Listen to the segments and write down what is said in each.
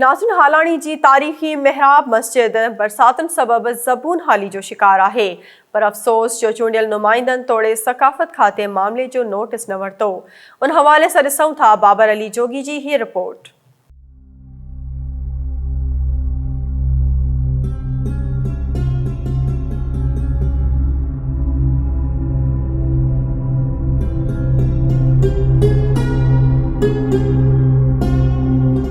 ناصر هالاڻي جي تاريخي محراب مسجد برساتن سبب زبون حالي جو شڪار آهي پر افسوس جو چونڊيل نمائندن توڙي ثقافت کاتي معاملي جو نوٽس نه ورتو ان حوالي سان ڏسون ٿا بابر علي جوڳي جي هي رپورٽ.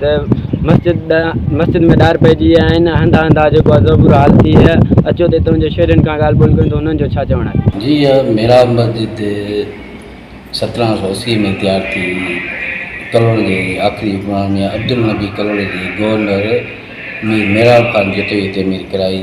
ته مسجد مسجد ۾ ڏار پئجي ويا آهن. هنڌ هنڌان جيڪو آهي سو برو حال ٿي ويو آهي. اچو ته هتان جي شهرين کان ڳالهه ٻولهه ڪيون ته انهن جو ڇا چوڻ آهي. جي اها محراب مسجد سترهن سؤ اسي ۾ تيار ٿي ڪلهوڙي جي آخري حڪمران ميان عبدالنبي ڪلهوڙي جي گورنر مير محراب خان جتوئيء تعمير ڪرائي.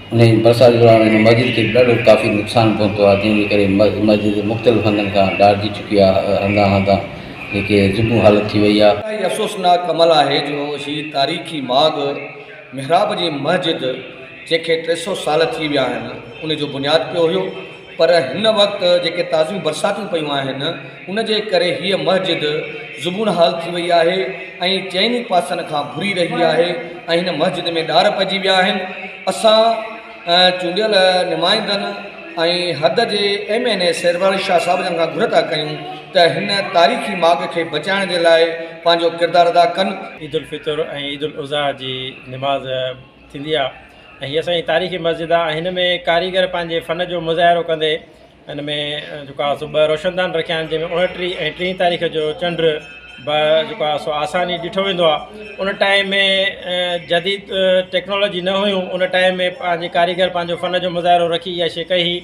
انهيء برسات دوران هن مسجد کي به ڏاڍو ڪافي نقصان پهتو آهي، جنهن جي ڪري مسجد جي مختلف هنڌن کان ڊاڙجي چڪي آهي ۽ هنڌان هنڌان جيڪي زبون حالت ٿي وئي آهي. اها ئي افسوسناڪ عمل آهي جو هي تاريخي ماڳ محراب جي مسجد جنهن کي ٽي سؤ سال ٿي ويا آهن، ان جو بنياد پيو هيو. پر هن وقت جيڪي تازيون برساتون پيون آهن ان جي ڪري هيء مسجد زبون حال ٿي وئي آهي ۽ چئن ئي پاسن کان ڀري رهي آهي ۽ هن مسجد ۾ ڏار پئجي ويا آهن اسان چونڊيل نمائندن ۽ حد جي ايم اين اي سيربحر شاهه صاحب جن کان گهر ٿا ڪيون ته هن تاريخي ماڳ کي بچائڻ جي لاء پنهنجو ڪردار ادا ڪن. عيدالفطر ۽ عيدالاضحيٰ جي نماز. ٿيندي آ ۽ هي اسان جي تاريخي مسجد آ ۽ هن ۾ ڪاريگر پنهنجي فن جو مظاهرو ڪندي هن ۾ جيڪو آ سو ٻه روشندان رکيا آهن جنهن ۾ اوڻٽيهه ۽ ٽيهه تاريخ جو چنڊ به جيڪو آ سو آساني ڏٺو ويندو آ ان ٽائيم ۾ جديد ٽيڪنالاجي نه هيون ان ٽائيم ۾ پنهنجي ڪاريگر پنهنجو فن جو مظاهرو رکي اها شي ڪئي هي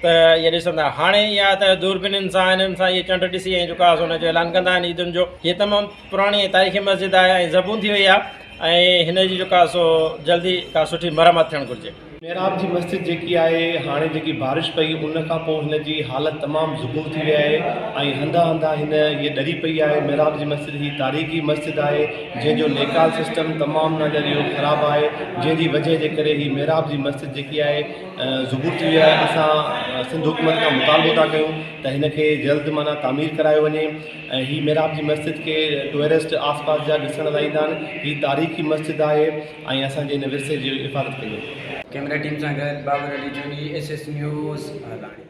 ته هي ڏسندا هاڻي يا ته دوربينين سان هنن سان هي چنڊ ڏسي ۽ جيڪو آ سو ان جو اعلان ڪندا آهن عيدن جو هي تمام پراڻي تاريخي مسجد آهي ۽ زبون ٿي وئي آهي ۽ هن جي جيڪا سو جلدي ڪا سٺي مرمت ٿيڻ گهرجي. محراب جي مسجد جيڪي آهي هاڻي جيڪي بارش پئي ان کان پوء هن جي حالت تمام زبون ٿي وئي آهي ۽ هنڌان هنڌان هن هيء ڏري پئي آهي محراب جي مسجد هي تاريخي مسجد آهي جنهن جو ليڪال سسٽم تمام ناليريو خراب آهي جنهن جي وجهه جي ڪري هي محراب جي مسجد جيڪي آهي زبون ٿي وئي آهي اسان سنڌ حڪومت کان مطالبو ٿا ڪيون ته هن کي جلد معنيٰ تعمير ڪرايو وڃي. هي محراب جي مسجد کي ٽوئرسٽ آس پاس جا ڏسڻ لاء ايندا آهن هي تاريخي مسجد آهي ۽ اسان جي هن ورثي جي حفاظت ڪندي. ڪيمرا ٽيم سان گڏ Babar Ali Joni S S news لاڙڪاڻي.